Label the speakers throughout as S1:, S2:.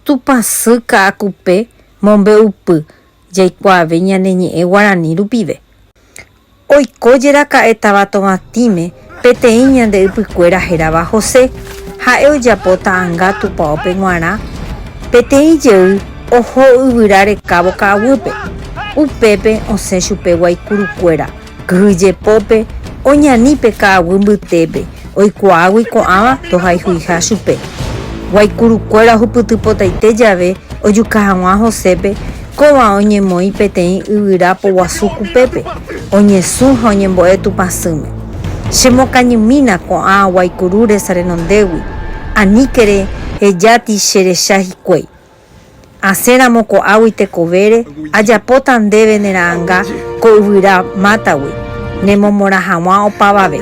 S1: Tupã sy ka'akupe mombe'upy jaikuaave ñane ñe'ẽ guarani rupive. Oiko jeraka'e táva Tovatĩme peteĩ ñande ypykuéra hérava José. Ha'e ojapo ta'ãnga tupaópe g̃uarã peteĩ jey oho yvyra rekávo ka'aguýpe. Upépe osẽ chupe guaikurukuéra. Kyhyjepópe oñani pe ka'aguy mbytépe, oikuaágui ko'ãva tohayhuiha chupe. Guaicurukuéra ohupytypotaite jave ojuka haguã Josépe, kóva oñemoĩ peteĩ yvyra poguasu kupépe, oñesũ ha oñembo'e Tupã sỹme. Chemokañymína ko'ã guaicuru resa renondégui, aníkere ejáti cherecha hikuái. Asẽramo ko'águi tekovére, ajapóta ndéve ne ra'anga ko yvyra mátagui, ne momorã haguã opavave.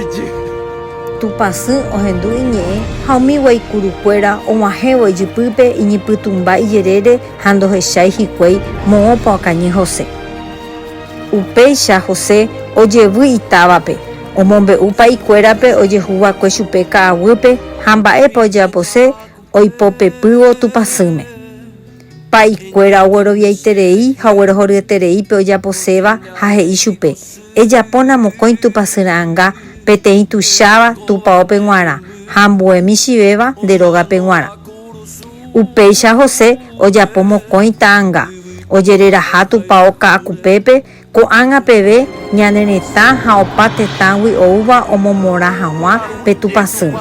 S1: Tupã sy ohendu iñe'ẽ ha umi guaikuru kuéra oguahẽvo ijypýpe iñypytũmba ijerére ha ndohechái hikuái moõpa okañy José. Upéicha José ojevy itávape, omombe'u pa'i kuérape ojehu vakue chupe ka'aguýpe ha mba'épa ojeapose oipopepývo Tupãsýme. Pa'ikuéra ogueroviaiterei ha oguerohoryeterei pe ojaposéva ha he'i chupe, Ejapóna mokõi Tupãsy ra'anga peteĩ tuicháva tupaópe g̃uarã ha ambue michĩvéva nde rógape g̃uarã. Upéicha José ojapo mokõi ta'anga, ojereraha tupao ka'akupépe Ko'ág̃a peve ñane retã ha opa tetãgui oúva omomorã haguã pe tupãsýme.